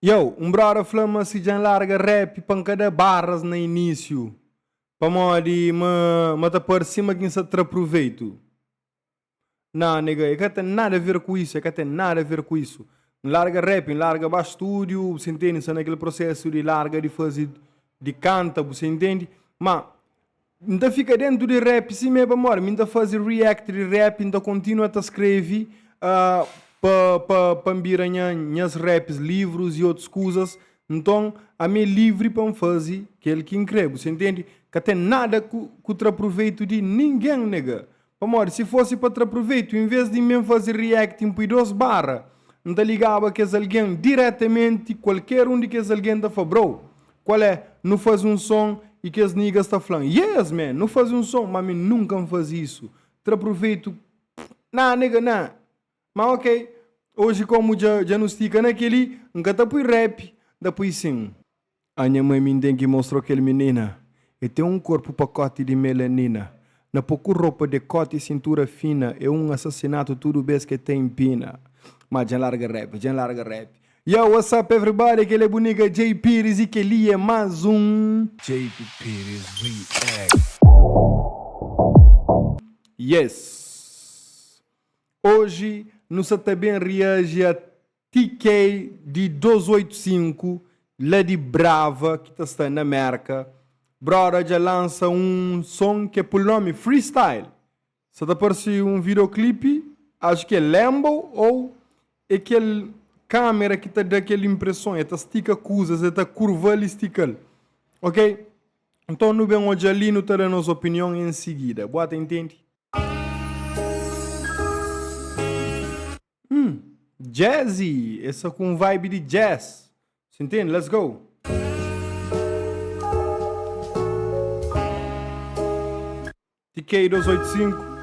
Yow, un brother fla ma si djan larga rap pa nka da barras na inisiu pamodi ma ma ta parse sima kin sa tra pruveitu. Nah nega, e ka ten nada ver ku isso, e ka ten nada ver ku isso. Nlarga rap, nlarga ba studio, bu sa intendi, nsa na kel processo di larga di faze di canta, bu sa intendi, ma N ta fika dentu di rap sime pa mor mi n ta fazi react di rap n ta kontinua ta skrevi pa pa pa n bira nha nhas raps livrus i otus kuzas nton ami é livri pa n fazi kel ki n kre bu sa intendi ka ten nada ku tra pruveitu di ningen nega Pamodi si fosi pa tra pruvetu, inves di mi N fazi react N pui dos barra, N ta ligaba kes algen diretamenti, kualker un di kes algen ta fla bro, kual é, nu fazi un son y kes nigas ta fla-m, yes man, nu fazi un son, ma mi nunka N fazi isu, tra pruvetu, nah nega nah, ma ok, oji komu dja dja nu stika na kel-li, N ka ta pui rap, N ta pui sin. A nha mãe mindengui mostró kel minina E ten un korpu pakóti di melanina Na poku ropa, dekóti i sintura fina É un asasinatu tudu bes ke ta inpina Má dja N larga rap, dja N larga rap Yow, what's up everybody, kel-li é bu niga Jay Pires i kel-li é más un. Jay Pires React. Yes! Oji nu sa ta ben reaji a. Ti kei di 285 la di brava ki ta sta na merka broda dja lansa un son ke pul nomi free style sa ta parsi un video clip acho ke lembou ou e kel camera ki ta da kel impresson e ta stika kuzas e ta kurval e stikal ok nton nu ben odja li nu ta da nos opinion en sigida bo ta intendi. Hum, jazzy, é sa ku um vibe di jazz, cê entende? Let's go! TK285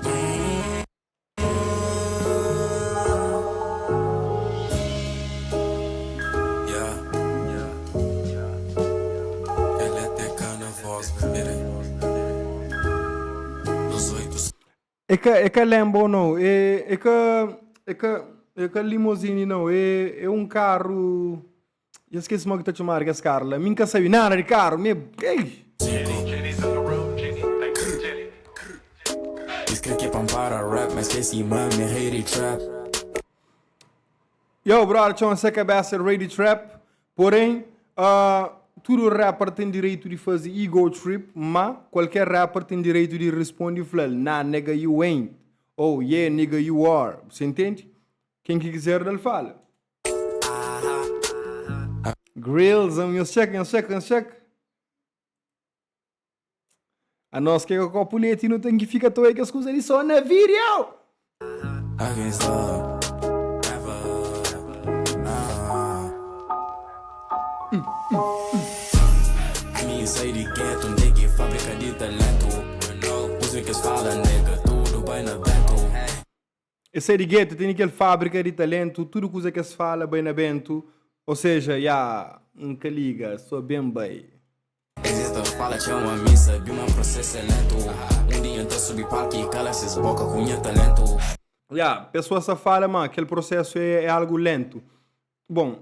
Ela é tecana, voz primeira É ka é ka Lambo não, é é ka é ka é ka limousine não, é é um carro já esqueci mo ki ta txomadu kes carro la, mi nka sabi nada di carro, mi ei. Yow brother txoma se kabesa Rei di Trap. Porém, tudo rapper tem direito de fazer ego trip, ma qualquer rapper tem direito de responder e fla-l, Nah nigga you ain't, ou Yeah nigga you are, bu sa intendi? Quem que quiser da-l fala. Grillz, nhos txeka, nhos txeka, nhos txeka. A nos ke ka kopu leti nu ten ki fika ta oia kes kuza li so na video. Es sai di gueto, tene kel fabrika di talentu, tudu kuza ki es fala bai na bentu, o seja, ya, N ka liga, so ben bai. Es e ta fala txema mi, sabi ma prosesu e lentu, un dia N ta subi palku i kala ses boka ku nha talentu. Ya, pesoas ta fala ma kel prosesu e algu lentu. Bon,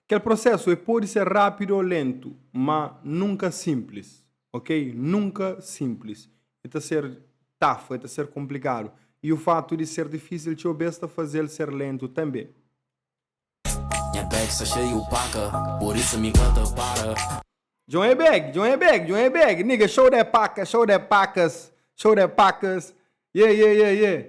Kel prosesu e podi ser rapidu o lentu, ma nunka simplis, ok? Nunka simplis. E ta ser tafu, e ta ser konplikadu. I o fatu di ser difisil txeu bes ta fazel ser lentu tanbe. Nha bag sta xeiu paka, por isso mi ka ta para. Djon é beg, djon é beg, djon é beg Nigga show that paka, show that pakas Show that pakas Yeah, yeah, yeah, yeah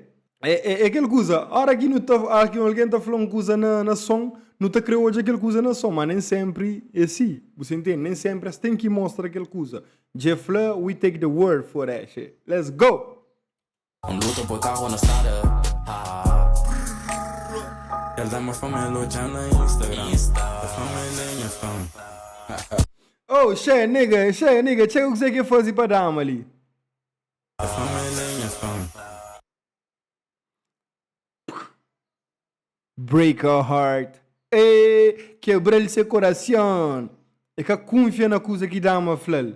É, é, é kel kuza Óra ki nu ta, óra ki algen ta fla un kuza na, na son Nu ta krê odja kel kuza na son Má nen sénpri é si, bu sa intende Nen sénpri es ten ki mostra kel kuza Dje fla, we take the world for that shit Let's go! N luta pa karu na strada El da ma fama el odja na instagram El fama el é nha fan. Oh, xé, nigga, xé, nigga, txeka kuzé ki el faze pa dama li. El fama el é nha fan. Break her heart. Êê, kebra-l se korason. El ka kunfia na kuza ki dama fla-l.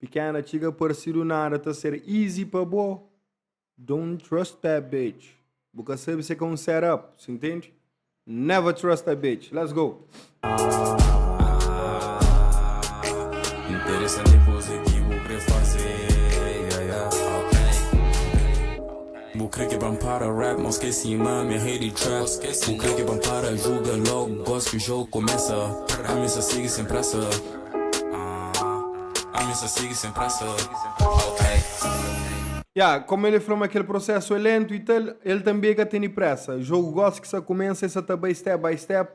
Pikéna txiga parsidu nada ta ser easy pa bo Don't trust that bitch Bu ka sabe se ka un set up Si ntende? Never trust that bitch Let's go! Interesante koza ki bu kre faze Bu kre ke ban para rap ma ske sima mi rei di trap Bu kre ke ban para juga log gospe jog komesa Ami sa sigi sen presa ah Ami sa sigi sen presa ok. Ya, kómu el fla ma kel prosesu é léntu i tal, el tanbê ka tene présa. Jogu gósi ki sa kumesa, el sa ta bai step by step,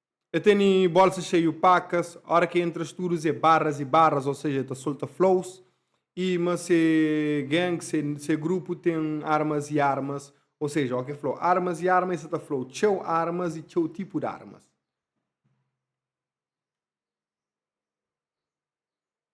E teni bolsa xeiu pakas, ora ke entra studus e barras e barras, ou seja, e ta solta flows, e ma se gang, se se grupu ten armas e armas, ou seja, ok flo armas e arma e sa ta flow txeu armas e txeu tipu d'armas.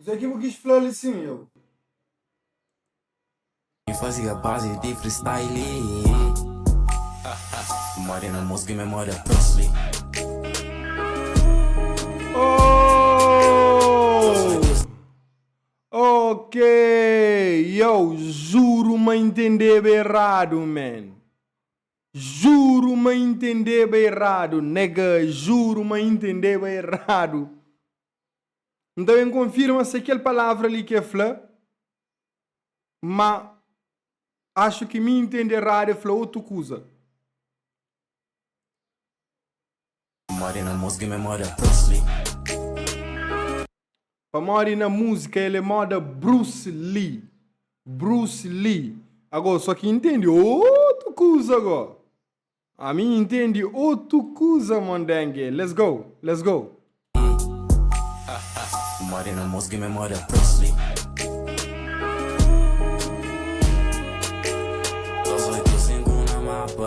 Kuzê ki bu kis fla li sin eu? N fazi a bazi di freestyle Memoria na mos ki memoria Presley Oh! Ok! Yo juru ma N intendeba eradu, man! Juru ma intendeba eradu. Nega, juru ma intendeba eradu. N ta ben konfirma se kel palavra li ki el fla, ma axu ki mi intende eradu, el fla otu kuza. Pamodi na múzika el é móda Bruce Lee. Pamodi na múzika el é móda Bruce Lee. Bruce Lee. Agó só ki intendi otu kuza agó. Ami intendi otu kuza mondenge. Let's go, let's go. Pamodi na múzika el é móda Bruce Lee. Dôs oitu sinku na mapa.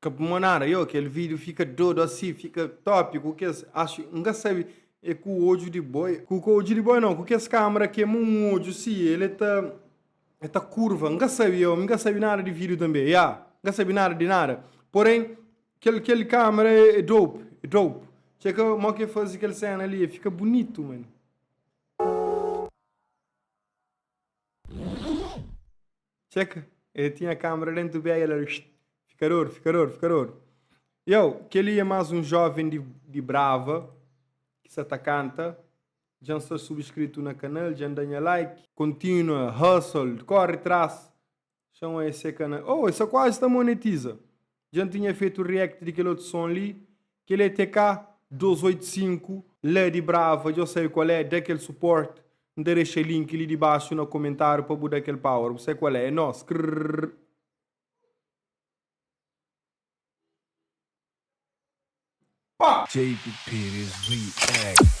Ka bu mo nada yo kel video fika dodu asi fika top ku kes acho n ka sabi e ku odju di boi ku ka odju di boi no ku kes camera kema un odju si el e ta e ta kurva n ka sabi yo mi ka sabi nada di video tambe ya n ka sabi nada di nada poren kel kel camera e dope e dope txeu ka mo ke fazi kel sena li e fika bunitu mano. Txeka, el tinha kâmara déntu bia i el éra. Fikador, fikador, fikador. Iau, kel-li é más un jóven di brava ki sa ta kanta. Dja N sta subskritu na kanal, dja N da nha like. Kontínua, hustle, kóre tras. Xa N oi, es é kanal. Ôô, es ta kuazi ta monetiza. Dja N tinha fetu react di kel otu son li, kel é TK 285 la di Brava, dja sabe kual é, da kel support, N ta dexa link li dibaxu na komentáriu pa bu da kel power, bu sabe kual é, é nós, krrrr. Pá! Jeitu Pires React.